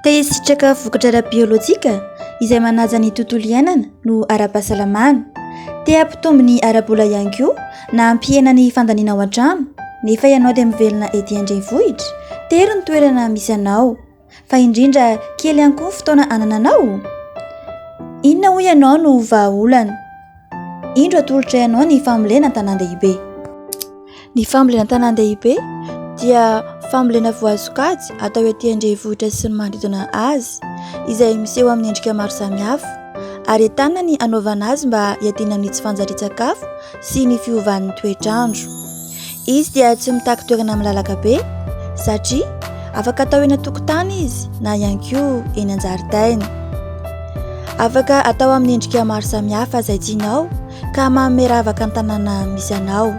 Te hisitraka vokatra ara-biolojika izay manaja ny tontolo iainana no ara-pahasalamana. Te hampitombo ny ara-bola ihany koa na hampihena ny fandaniana ao an-trano nefa ianao dia mivelona ety an-drenivohitra? Tery ny toerana misy anao fa indrindra kely ihany koa ny fotoana anananao? Inona hoy ianao no vahaolana? Indro atolotray anao ny fambolena an-tanàn-dehibe. Ny fambolena an-tanàn-dehibe dia fambolena voasokajy atao ety an-drenivohitra sy ny manodidina azy izay miseho amin'ny endrika maro samihafa ary ahitana ny hanaovana azy mba hiadiana amin'ny tsy fanjarian-tsakafo sy ny fiovan'ny toetr'andro. Izy dia tsy mitaky toerana malalaka be satria afaka atao eny an-tokotany izy na ihany koa eny an-jaridaina. Afaka atao amin'ny endrika maro samihafa izay tianao ka manome ravaka ny tanàna misy anao.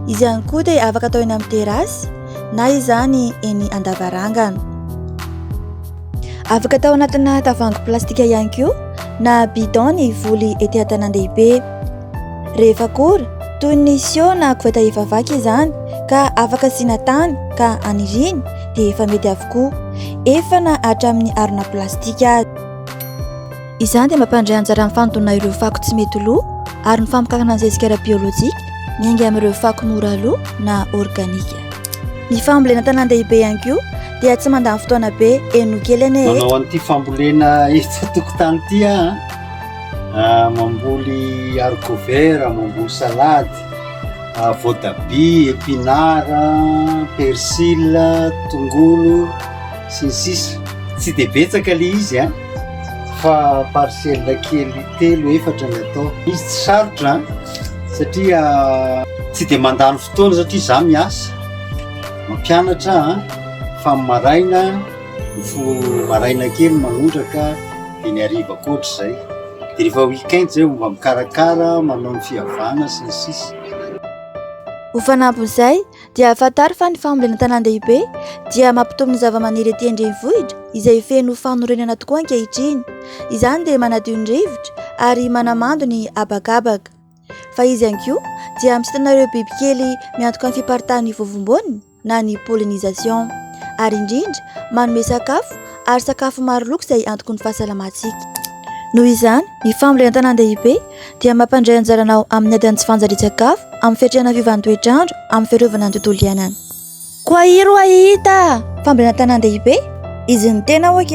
Izy ihany koa dia afaka atao eny amin'ny terasy na izany eny an-davarangana. Afaka atao anatina tavoahangy plastika ihany koa na bidon ny voly ety an-tanàn-dehibe. Rehefa kora, toy ny siô na koveta efa vaky izany ka afaka asiana tany ka aniriany dia efa mety avokoa, efa na hatramin'ny harona plastika aza. Izany dia mampandray anjara amin'ny fanodonana ireo fako tsy mety lo ary ny famokarana ny zezika ara-biolojika miainga amin'ireo fako mora lo na organika. Ny fambolena an-tanàn-dehibe ihany koa dia tsy mandany fotoana be eny no kely anie e! Manao an'ity fambolena etsy an-tokotany ity aho an! Mamboly haricot vert, mamboly salady, voatabia, épinards, persil, tongolo sy ny sisa. Tsy dia betsaka ilay izy an! fa parcelle kely telo efatra ny atao izy tsy sarotra satria tsy dia mandany fotoana satria za miasa mampianatra fa maraina fo maraina kely manondraka de ny ariva koatra zay de rehefa week-end zay mba mikarakara manao ny fihavana sy ny sisa ho fanampin'izay dia fantaro fa ny fambolena an-tanàn-dehibe dia mampitombo ny zavamaniry ety an-drenivohitra izay feno fanorenana tokoa ankehitriny. Izany dia manadio ny rivotra ary manamando ny habakabaka. Fa izy ihany koa dia misintona ireo bibikely miantoka ny fiparitahan'ny vovomboany na ny pollinisation ary indrindra manome sakafo ary sakafo maro loko izay antoky ny fahasalamantsika. Noho izany ny fambolena an-tanàn-dehibe dia mampandray anjaranao amin'ny adin'ny tsy fanjarian-tsakafo, amin'ny fiatrehana fiovan'ny toetr'andro, amin'ny fiarovana ny tontolo iainana. Koa iry ho'a hita fambolena an-tanàn-dehibe, izy ny tena ok.